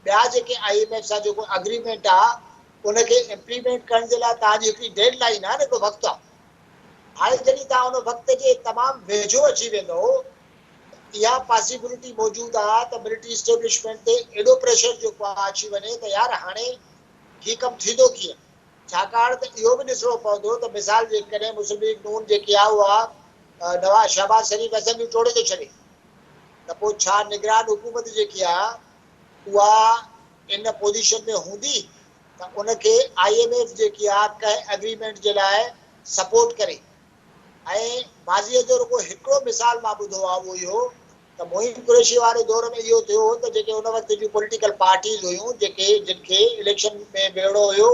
ٻيا جيڪي آئي ايم ايف سان جيڪو اگريمينٽ آ ان کي امپليمينٽ ڪرڻ جي لاء تهان جي هڪڙي ڊيڊ لائين آ نه هڪڙو وقت آ هاڻي جڏهن تهان ان وقت جي تمام ويجهو اچي ويندو ته اها پاسيبلٽي موجود آ ته ملٽري اسٽيبلشمينٽ تي ايڏو پريشر جيڪو آ اچي وڃي ته يار هاڻي هي ڪم ٿيندو ڪيئن. ڇاڪاڻ ته اهو به ڏسڻو پوندو ته مثال جيڪڏهن مسلم ليگ نون جيڪي آء اها نواز شهباز شريف اسيمبلي ٽوڙي ٿو ڇڏي ته پوء ڇا نگران حڪومت جيڪي آء اها ان پوزيشن ۾ هوندي ته ان کي آء ايم ايف جيڪي آء ڪنهن اگريمينٽ جي لاء سپورٽ ڪري. ۽ ماضيء جو رڳو هڪڙو مثال مان ٻڌو آهي اهو اهو ته معين قريشي واري دور ۾ اهو ٿيو هو ته جيڪي ان وقت جون پوليٽيڪل پارٽيز هيون جيڪي جن کي اليڪشن ۾ ويهڙو هيو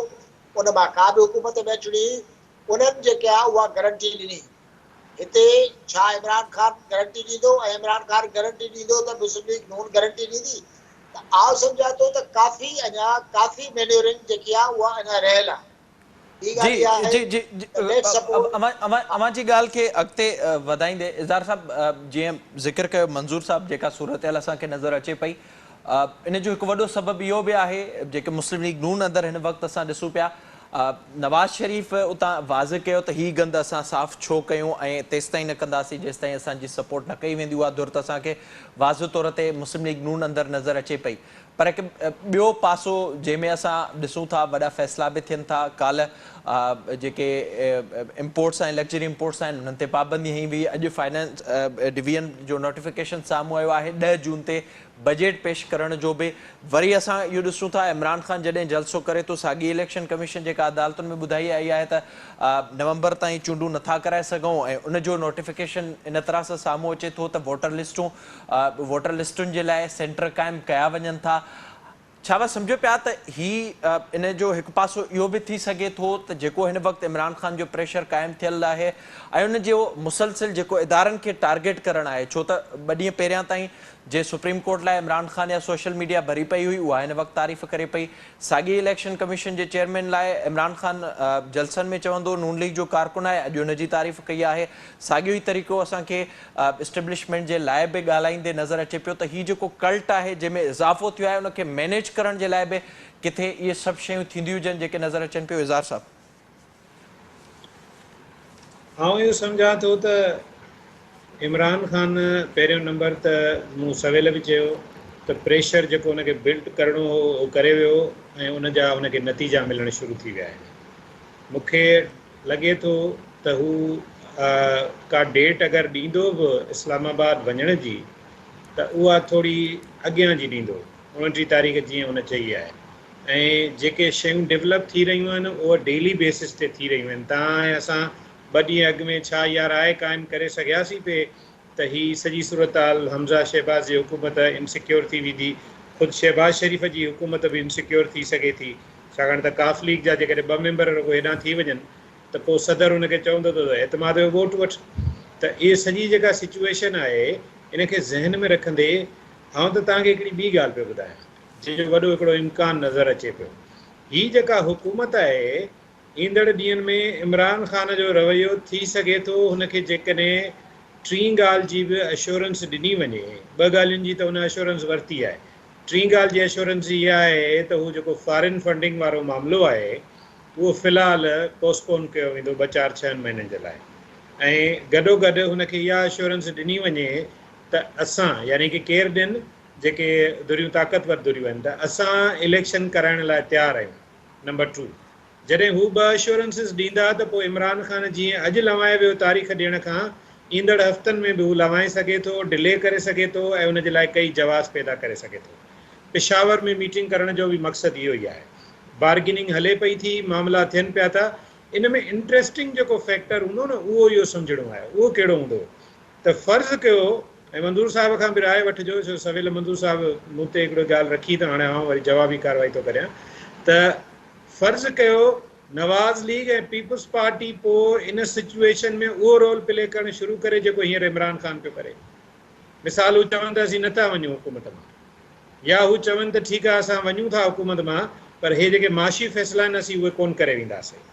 ان مان ڪا به حڪومت نه چڙي انهن جيڪا اها گرنٽي ڏني هتي ڇا عمران خان گرنٽي ڏيندو ۽ عمران خان گرنٽي ڏيندو ته مسلم ليگ نون گرنٽي ڏيندي ته آء سمجهان ٿو ته ڪافي اڃا ڪافي مينيورنگ جيڪي آهي اها اڃا رهيل آهي ٻي جي ڳالهه اها آهي جي جي جي ته نيٺ سپورٽ اوهان اوهان جي ڳالهه کي اڳتي وڌائيندي اظهار صاحب جيئن ذڪر ڪيو منظور صاحب جيڪا صورتحال اسان کي نظر اچي پئي ان جو هڪ وڏو سبب اهو به آهي جيڪي مسلم ليگ نون اندر هن وقت اسان ڏسون پيا نواز شريف اتان واضح ڪيو ته هي گند اسان صاف ڇو ڪيون ۽ تيستائين نه ڪنداسين جيستائين اسان جي سپورٽ نه ڪئي ويندي اها ڌر ته اسان کي واضح طور تي مسلم ليگ نون اندر نظر اچي پئي پر هڪ ٻيو پاسو جنهن ۾ اسان ڏسون ٿا وڏا فيصلا به ٿين ٿا، ڪالهه جيڪي امپورٽس آهن لڪجري امپورٽس آهن انهن تي پابندي هنئي وئي، اڄ فنانس ڊويزن جو نوٽيفڪيشن سامهون آيو آهي، ڏهه جون تي بجيٽ پيش ڪرڻ جو به وري اسان اهو ڏسون ٿا عمران خان جڏهن جلسو ڪري ٿو ساڳي اليڪشن ڪميشن جيڪا عدالتن ۾ ٻڌائي آئي آهي ته نومبر تائين چونڊون نٿا ڪرائي سگهون ۽ ان جو نوٽيفڪيشن ان طرح سان سامهون اچي ٿو ته ووٽر لسٽون ووٽر لسٽن جي لاء سينٽر قائم ڪيا وڃن ٿا، ڇا اوهان سمجهو پيا ته هي ان جو هڪ پاسو اهو به ٿي سگهي ٿو ته جيڪو هن وقت عمران خان جو پريشر قائم ٿيل آهي ۽ ان جو مسلسل جيڪو ادارن کي ٽارگيٽ ڪرڻ آهي ڇو ته ٻه ڏينهن پهريان تائين جي سپريم ڪورٽ لاء عمران خان يا سوشل ميڊيا ڀري پئي هئي اها هن وقت تعريف ڪري پئي ساڳي اليڪشن ڪميشن جي چيئرمين لاء عمران خان جلسن ۾ چوندو نون ليگ جو ڪارڪن آهي اڄ ان جي تعريف ڪئي آهي ساڳيو ئي طريقو اسان کي اسٽيبلشمينٽ جي لاء به ڳالهائيندي نظر اچي پيو ته هي جيڪو ڪلٽ آهي جنهن ۾ اضافو ٿيو آهي ان کي مينيج ڪرڻ جي لاء به ڪٿي اهي سڀ شيون ٿينديون هجن جيڪي نظر اچن پيو اظهار صاحب. آئون اهو سمجهان ٿو ته عمران خان پهريون نمبر ته مون سويل به چيو ته پريشر جيڪو ان کي بلڊ ڪرڻو هو اهو ڪري ويو ۽ ان جا ان کي نتيجا ملڻ شروع ٿي ويا آهن مون کي لڳي ٿو ته هو ڪا ڊيٽ اگر ڏيندو به اسلام آباد وڃڻ جي ته اها ٿوري اڳيان جي ڏيندو اوڻٽيهه تاريخ جيئن هن چئي آهي ۽ جيڪي شيون ڊولپ ٿي رهيون آهن اهي ڊيلي بيسس تي ٿي رهيون آهن تان آهي اسان ٻه ڏينهن اڳ ۾ ڇا اها راء قائم ڪري سگهياسين پئي ته هي سڄي صورتحال حمزه شهباز جي حڪومت انسيڪيور ٿي ويندي، خود شهباز شريف جي حڪومت به انسيڪيور ٿي سگهي ٿي، ڇاڪاڻ ته ق ليگ جا جيڪڏهن ٻه ميمبر رڳو هيڏانهن ٿي وڃن ته پوء صدر ان کي چوندو ته اعتماد جو ووٽ وٺ ته اهي سڄي جيڪا سچوئيشن آهي ان کي ذهن ۾ رکندي آئون ته توهان کي هڪڙي ٻي ڳالهه پيو ٻڌايان جنهن جو وڏو هڪڙو امڪان نظر اچي پيو هي جيڪا حڪومت آهي ايندڙ ڏينهن ۾ عمران خان جو رويو ٿي سگهي ٿو هن کي جيڪڏهن ٽين ڳالهه جي به اشورنس ڏني وڃي، ٻه ڳالهين جي ته هن اشورنس ورتي آهي، ٽين ڳالهه جي اشورنس اها آهي ته هو جيڪو فارن فنڊنگ وارو معاملو آهي اهو في الحال پوسٽ پون ڪيو ويندو ٻه چار ڇهن مهينن جي لاء ۽ گڏوگڏ هن کي اها اشورنس ڏني وڃي ته اسان يعني ڪي ڪير ڏين جيڪي ڌريون طاقتور ڌريون آهن ته اسان اليڪشن ڪرائڻ لاء تيار آهيون. نمبر ٽو جڏهن هو ٻه اشورنسز ڏيندا ته پوء عمران خان جيئن اڄ لنوائي ويو تاريخ ڏيڻ کان ايندڙ هفتن ۾ به هو لنوائي سگهي ٿو ڊلي ڪري سگهي ٿو ۽ ان جي لاء ڪئي جواز پيدا ڪري سگهي ٿو پشاور ۾ ميٽنگ ڪرڻ جو به مقصد اهو ئي آهي بارگيننگ هلي پئي ٿي معاملا ٿين پيا ٿا ان ۾ انٽريسٽنگ جيڪو فيڪٽر هوندو نه اهو اهو سمجهڻو آهي اهو ڪهڙو هوندو ته فرض ڪيو ۽ منظور صاحب کان به راء وٺجو ڇو سويل منظور صاحب مون تي هڪڙو ڳالهه رکي ته هاڻي آئون وري جوابي ڪارروائي ٿو ڪريان ته فرض ڪيو نواز ليگ ۽ پيپلز پارٽي پو ان سچويشن ۾ اهو رول پلي ڪرڻ شروع ڪري جيڪو هينئر عمران خان پيو ڪري مثال هو چون ته اسين نه ٿا وڃون حڪومت مان يا هو چون ته ٺيڪ آهي اسان وڃون ٿا حڪومت مان پر هي جيڪي معاشي فيصلا آهن اسين اهي ڪون ڪري وينداسين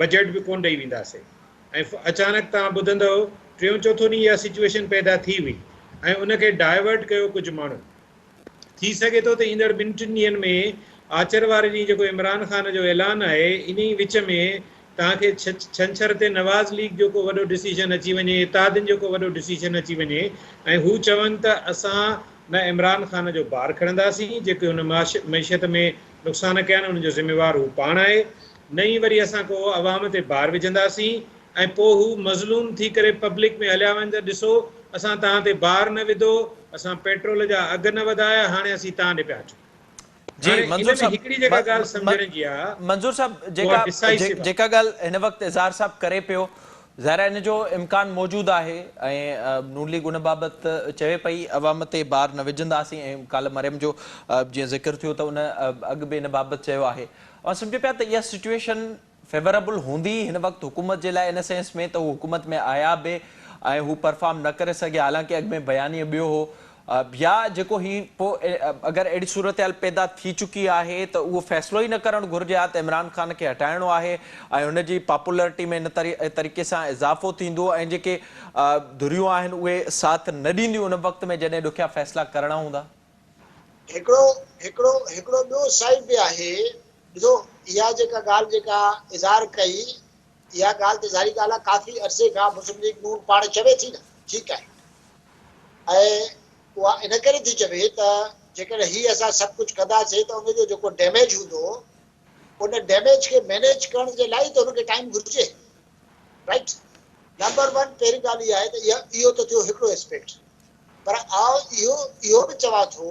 بجيٽ به ڪون ڏئي وينداسين ۽ ڦ اچانڪ توهان ٻڌندؤ ٽيون چوٿون ڏينهن اها سچوئيشن پيدا ٿي هئي ۽ ان کي ڊائيورٽ ڪيو ڪجهه ماڻهن. ٿي سگهي ٿو ته ايندڙ ٻن ٽن ڏينهن ۾ آچر واري ڏينهن جيڪو عمران خان جو اعلان آهي انهي وچ ۾ توهان کي ڇنڇر تي نواز ليگ جو ڪو وڏو ڊسيشن اچي وڃي اتحادين جو ڪو وڏو ڊسيشن اچي وڃي ۽ هو چون ته اسان نه عمران خان جو بار کڻنداسين جيڪي هن معشيت ۾ نقصان ڪيا آهن ان جو ذميوار هو پاڻ آهي نه ئي وري اسان ڪو عوام تي بار وجهنداسين ۽ پوء هو مظلوم ٿي ڪري پبلڪ ۾ هليا وڃن ته ڏسو اسان توهان تي بار نه وڌو، اسان پيٽرول جا اگهه نه وڌايا هاڻي اسين توهان ڏي پيا اچون. جي هاڻي ان منظور ۾ صاحب هڪڙي جيڪا ڳالهه سمجهڻ جي آهي منظور صاحب جيڪا اها ڊسائسو آهي. جيڪا ڳالهه هن وقت اظهار صاحب ڪري پيو ظاهر آهي ان جو امڪان موجود آهي ۽ نون ليگ ان بابت چوي پئي عوام تي بار نه وجهنداسين ۽ ڪالهه مريم جو جيئن ذڪر ٿيو ته ان اڳ به ان بابت چيو آهي اوهان سمجهو پيا ته اها سچوئيشن فيوريبل هوندي هن وقت حڪومت جي لاء ان سينس ۾ ته هو حڪومت ۾ آيا به ۽ هو پرفارم نه ڪري سگهيا حالانڪه اڳ ۾ بيانيه ٻيو هو يا جيڪو هي پو اگر اهڙي صورتحال پيدا ٿي چڪي آهي ته اهو فيصلو ئي نه ڪرڻ گهرجي ها ته عمران خان کي هٽائڻو آهي ۽ هن جي پاپولرٽي ۾ ان طريقي سان اضافو ٿيندو ۽ جيڪي ڌريون آهن اهي ساٿ نه ڏينديون ان وقت ۾ جڏهن ڏکيا فيصلا ڪرڻا هوندا. هڪڙو هڪڙو هڪڙو ٻيو سائيڊ به آهي ڏسو اها جيڪا ڳالهه جيڪا اظهار ڪئي اها ڳالهه ته ظاهري ڳالهه آهي ڪافي عرصي کان مسلم ليگ نون پاڻ چوي ٿي نه ٺيڪ آهي ۽ اها ان ڪري ٿي چوي ته جيڪڏهن هي اسان سڀ ڪجهه ڪنداسين ته ان جو جيڪو ڊيميج هوندو ان ڊيميج کي مينيج ڪرڻ جي لاء ته هن کي ٽائيم گهرجي رائٽ نمبر ون پهرين ڳالهه اها آهي ته اهو ته ٿيو هڪڙو اسپيڪٽ پر آئون اهو اهو به چوان ٿو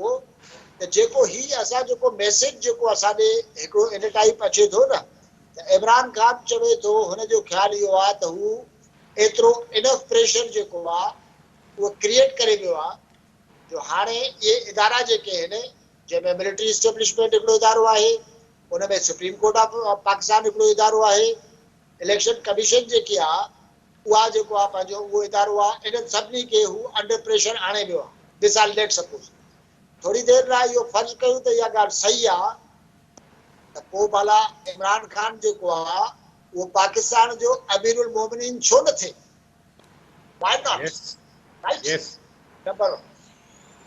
ته جيڪو هي اسان جيڪو ميسيج جيڪو اسان ڏي هڪڙو ان ٽائيپ اچي ٿو نه ته عمران خان چوي ٿو هن جو خيال اهو آ ته هو ايترو انف پريشر جيڪو آ اهو ڪريئيٽ ڪري ويو آ جو هاڻي اهي ادارا جيڪي آهن جنهن ۾ ملٽري اسٽيبلشمينٽ هڪڙو ادارو آهي ان ۾ سپريم ڪورٽ آف پاڪستان هڪڙو ادارو آهي. اليڪشن ڪميشن جيڪي آ اها جيڪو آ پنهنجو اهو ادارو آ انهن سڀني کي هو انڊر پريشر آڻي ويو آ ڌس آ ليٽ سپوز ٿوري دير لاء اهو فرض ڪيون ته اها ڳالهه صحيح آ ته پو ڀلا عمران خان جيڪو آ اهو پاڪستان جو امير المومنين ڇو نه ٿئي why not yes right yes number 1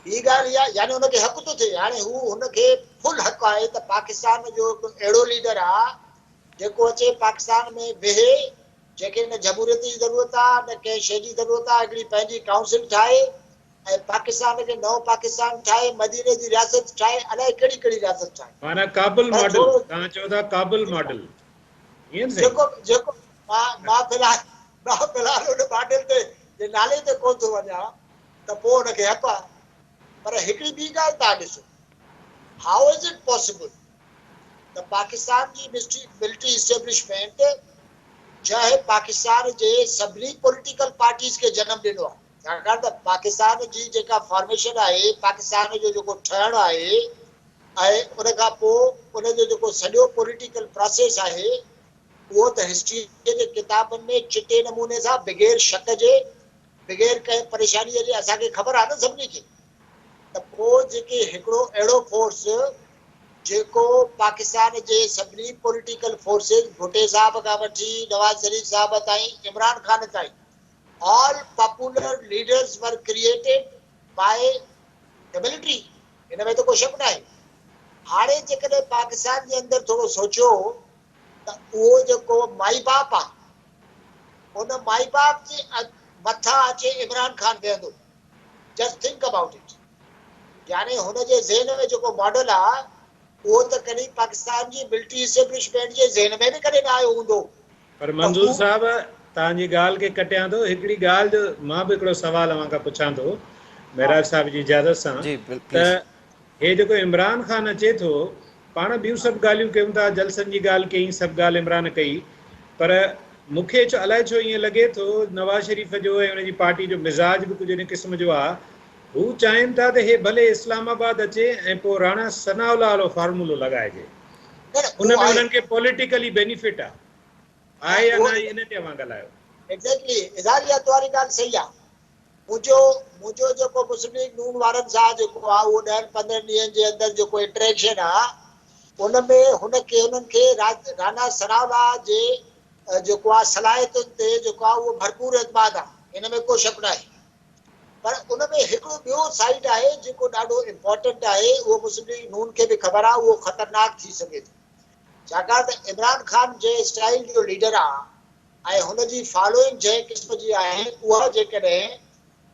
ٻي ڳالهه اها يعني هن کي حق ٿو ٿئي هاڻي هو هن کي فل حق آهي ته پاڪستان جو هڪ اهڙو ليڊر آ جيڪو اچي پاڪستان ۾ ويهي، جنهنکي نه جمهوريت جي ضرورت آ، نه ڪنهن شيء جي ضرورت آ، هڪڙي پنهنجي ڪائونسل ٺاهي ۽ پاڪستان کي نئون پاڪستان ٺاهي، مديني جي رياست ٺاهي، الائي ڪهڙي ڪهڙي رياست ٺاهي. معنيٰ ڪابل پر ماڊل، ٿورو توهان چئو ٿا ڪابل ماڊل، ائين نه سائين؟ جيڪو به جيڪو مان مان في الحال مان في الحال ان ماڊل تي جي نالي تي ڪونه ٿو وڃان ته پوء ان کي هپ آ، پر هڪڙي ٻي ڳالهه توهان ڏسو، هائو از اٽ پاسيبل ته پاڪستان جي ملٽري اسٽيبلشمينٽ جنهن پاڪستان جي سڀني پوليٽيڪل پارٽيز کي جنم ڏنو آهي، ڇاڪاڻ ته پاڪستان جي جيڪا فارميشن آهي، پاڪستان جو جيڪو ٺهڻ آهي ۽ ان کان پوء ان جو جيڪو سڄو پوليٽيڪل پراسيس آهي، اهو ته هسٽريء جي ڪتابن ۾ چٽي نموني سان بغير شڪ جي بغير ڪنهن پريشانيء جي اسان کي خبر آهي نه سڀني کي ته پوء جيڪي هڪڙو اهڙو فورس جيڪو پاڪستان جي سڀني پوليٽيڪل فورسز ڀٽي صاحب کان وٺي نواز شريف صاحب تائين عمران خان تائين all popular leaders were created by ته ملٽري ان ۾ ته ڪو شڪ ناهي هاڻي جيڪڏهن پاڪستان جي اندر ٿورو سوچيو ته اهو جيڪو مائي باپ آهي هن مائي باپ جي مٿان اچي عمران خان بيهندو جسٽ ٿنڪ ابائوٽ اٽ يعني هن جي ذهن ۾ جيڪو ماڊل آ اهو ته ڪڏهن پاڪستان جي ملٽري اسٽيبلشمينٽ جي ذهن ۾ به ڪڏهن نه آيو هوندو پر منظور صاحب توهان جي ڳالهه کي ڪٽيان ٿو هڪڙي ڳالهه جو مان به هڪڙو سوال اوهان کان پڇان ٿو معراج صاحب جي اجازت سان ته هي جيڪو عمران خان اچي ٿو پاڻ ٻيون سڀ ڳالهيون ڪيون ٿا جلسن جي ڳالهه ڪئي سڀ ڳالهه عمران ڪئي پر مون کي ڇو الائي ڇو ائين لڳي ٿو نواز شريف جو ۽ ان جي پارٽي جو مزاج به ڪجهه ان قسم جو آ هو چاهين ٿا ته هي ڀلي اسلام آباد اچي ۽ پوء راڻا ثناء الله وارو فارمولو لڳائجي پر ان ۾ انهن کي پوليٽيڪلي بينيفٽ آ آهي يا ناهي ان تي اوهان ڳالهايو. ايگزيڪٽلي اظهار اها توهاري ڳالهه صحيح آ منهنجو منهنجو جيڪو مسلم ليگ نون وارن سان جيڪو آ اهو ڏهن پندرهن ڏينهن جي اندر جيڪو انٽريڪشن آ ان ۾ هن کي هنن کي رانا ثناءالله جي جيڪو آ صلاحيتن تي جيڪو آ اهو ڀرپور اعتماد آ ان ۾ ڪو شڪ ناهي پر ان ۾ هڪڙو ٻيو سائيڊ آهي جيڪو ڏاڍو امپارٽنٽ آهي اهو مسلم ليگ نون کي به خبر آ اهو خطرناڪ ٿي سگهي ٿو ڇاڪاڻ ته عمران خان جنهن اسٽائيل جو ليڊر آ ۽ هن جي فالوئنگ جنهن قسم جي آهي اها جيڪڏهن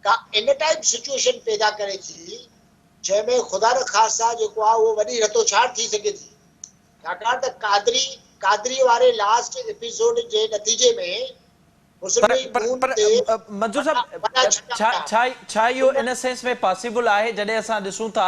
ڪا ان ٽائيپ سچوئيشن پيدا ڪري ٿي جنهن ۾ خدا نخواسته جيڪو آهي اهو وڏي رتوڇاڙ ٿي سگهي ٿي ڇاڪاڻ ته قادري قادري واري لاسٽ ايپيسوڊ جي نتيجي ۾ پر مسلمي پر خون پر تي منظور وڏا صاحب وڏا ڇڪا ڇا پيا ڇا ڇا اهو ان ان سينس ۾ پاسيبل آهي جڏهن اسان ڏسون ٿا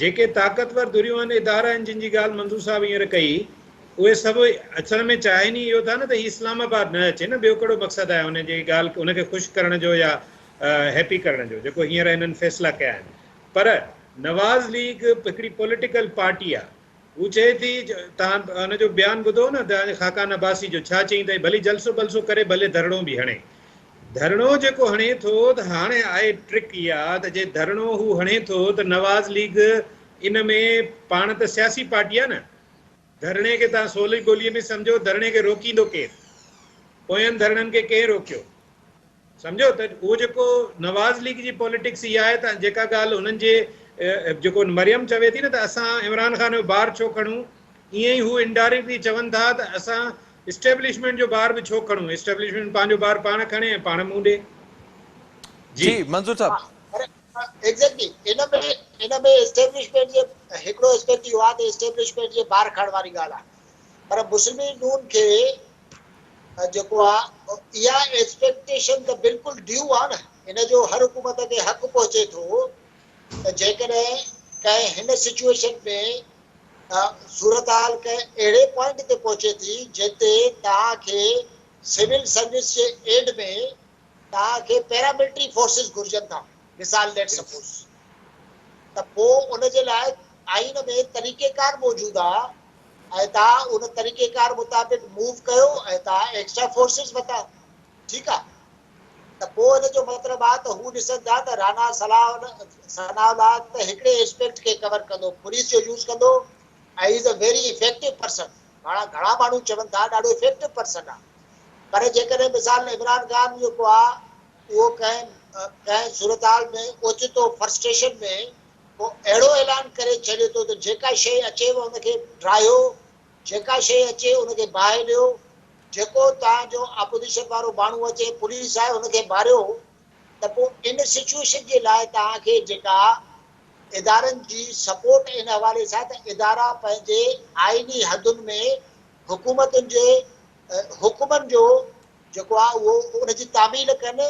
جيڪي طاقتور ڌريون آهن، ادارا آهن جن جي ڳالهه منظور صاحب هينئر ڪئي اهي سڀ اصل ۾ چاهين ئي اهو ٿا نه ته هي اسلام آباد نه اچي نه ٻيو ڪهڙو مقصد آهي هن جي ڳالهه هن کي خوش ڪرڻ جو يا هيپي ڪرڻ جو جيڪو هينئر هنن فيصلا ڪيا آهن پر نواز ليگ هڪڙي پوليٽيڪل پارٽي آهي هو چئي ٿي توهان هن جو بيان ٻڌو نه ته خاقان عباسي جو ڇا چئين ٿي ڀلي جلسو بلسو ڪري ڀلي ڌرڻو به هڻي ڌرڻو جيڪو هڻي ٿو ته هاڻي آهي ٽرڪ اها ته جي ڌرڻو هو هڻي ٿو ته نواز ليگ ان ۾ پاڻ ته سياسي پارٽي آهي نه ڌرڻي کي توهان سولي ٻولي ۾ سمجهو ڌرڻي کي روڪيندو ڪير پوين ڌرڻن کي ڪنهن روڪيو سمجهيو ته اهو جيڪو نواز ليگ جي پوليٽڪس اها آهي ته جيڪا ڳالهه هنن جي جيڪو مريم چوي ٿي نه ته اسان عمران خان جو بار ڇو کڻون ائين ئي هو انڊائريڪٽلي چون ٿا ته اسان اسٽيبلشمينٽ جو بار به ڇو کڻون اسٽيبلشمينٽ پنهنجو بار پاڻ کڻي ۽ پاڻ منهن ڏي جي جي منظور صاحب پر ايگزيڪٽلي ان ۾ ان ۾ اسٽيبلشمينٽ جي هڪڙو اسپيڪٽ اهو آهي ته اسٽيبلشمينٽ جي بار کڻڻ واري ڳالهه آهي پر مسلم ليگ نون کي جيڪو آ اها ايڪسپيڪٽيشن ته بلڪل ڊيو آ نه ان جو هر حڪومت کي حق پهچي ٿو ته جيڪڏهن ڪنهن هن سچويشن ۾ صورتحال ڪنهن اهڙي پوائنٽ تي پهچي ٿي جتي توهان کي سول سروس جي ايڊ ۾ توهان کي پيراملٽري فورسز گهرجن ٿا مثال ليٽ سپوز ته پوء ان جي لاء آئين ۾ طريقيڪار موجود آ ۽ توهان ان طريقيڪار مطابق موو ڪيو ۽ توهان ايڪسٽرا فورسز وتا ٺيڪ آ ته پوء ان جو مطلب آ ته هو ڏسن ٿا ته رانا ثناء الله ته هڪڙي اسپيڪٽ کي ڪور ڪندو پوليس جو يوز ڪندو ۽ is a very effective person پاڻ گهڻا ماڻهو چون ٿا ڏاڍو افيڪٽو پرسن آ پر جيڪڏهن مثال عمران خان جيڪو آ اهو ڪنهن ڪنهن صورتحال ۾ اوچتو فرسٽريشن ۾ هو اهڙو اعلان ڪري ڇڏي ٿو ته جيڪا شيء اچيو ان کي ڊاهيو، جيڪا شيء اچي ان کي باهه ڏيو، جيڪو توهان جو آپوزيشن وارو ماڻهو اچي پوليس آهي ان کي ماريو ته پوء ان سچوئيشن جي لاء توهان کي جيڪا ادارن جي سپورٽ ان حوالي سان ته ادارا پنهنجي آئيني حدن ۾ حڪومتن جي حڪمن جو جيڪو آ اهو ان جي تعميل ڪن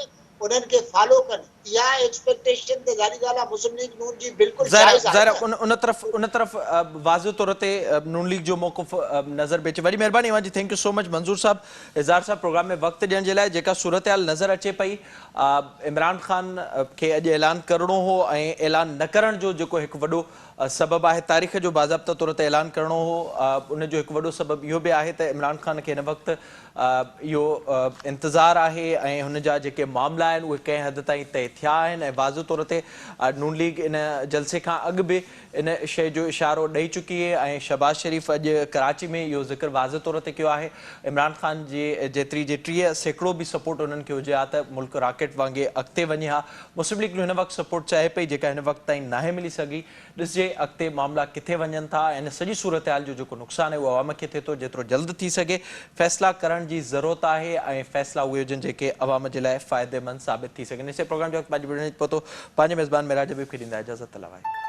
انهن کي فالو ڪن اها ايڪسپيڪٽيشن ته ظاهري ڳالهه آ مسلم ليگ نون جي بلڪل ظاهر آ جائز آهي ظاهر آ ان ان طرف ان طرف واضح طور تي نون ليگ جو موقف نظر پئي اچي وڏي مهرباني اوهان جي thank you so much Manzoor sahib Izhar صاحب پروگرام ۾ وقت ڏيڻ جي لاء جيڪا صورتحال نظر اچي پئي عمران خان کي اڄ اعلان ڪرڻو هو ۽ اعلان نه ڪرڻ جو جيڪو هڪ وڏو سبب آهي تاريخ جو باضابطه طور تي اعلان ڪرڻو هو ان جو هڪ وڏو سبب اهو به آهي ته عمران خان کي هن وقت اهو انتظار آهي ۽ هن جا جيڪي معاملا آهن اهي ڪنهن حد تائين طئي ٿيا آهن ۽ واضح طور تي نون ليگ ان جلسي کان اڳ به ان شيء جو اشارو ڏئي چڪي ۽ شهباز شريف اڄ ڪراچي ۾ اهو ذڪر واضح طور تي ڪيو آهي عمران خان جي جيتري جي ٽيهه سيڪڙو به سپورٽ انهن کي هجي ها ته ملڪ راڪيٽ وانگي اڳتي وڃي ها مسلم ليگ نون هن وقت سپورٽ چاهي پئي جيڪا هن وقت تائين ناهي ملي سگهي ڏسجي اڳتي معاملا ڪٿي وڃن ٿا ۽ ان سڄي صورتحال جو جيڪو نقصان آهي اهو عوام کي ٿئي ٿو، جيترو جلد ٿي سگهي فيصلا ڪرڻ جي ضرورت آهي ۽ فيصلا اهي هجن جيڪي عوام جي لاء فائديمند ثابت ٿي سگهن ايسي پروگرام جو وقت پنهنجي ٻيڙي نچ پهتو پنهنجي ميزبان معراج حبيب کي ڏيندا اجازت الله وائي.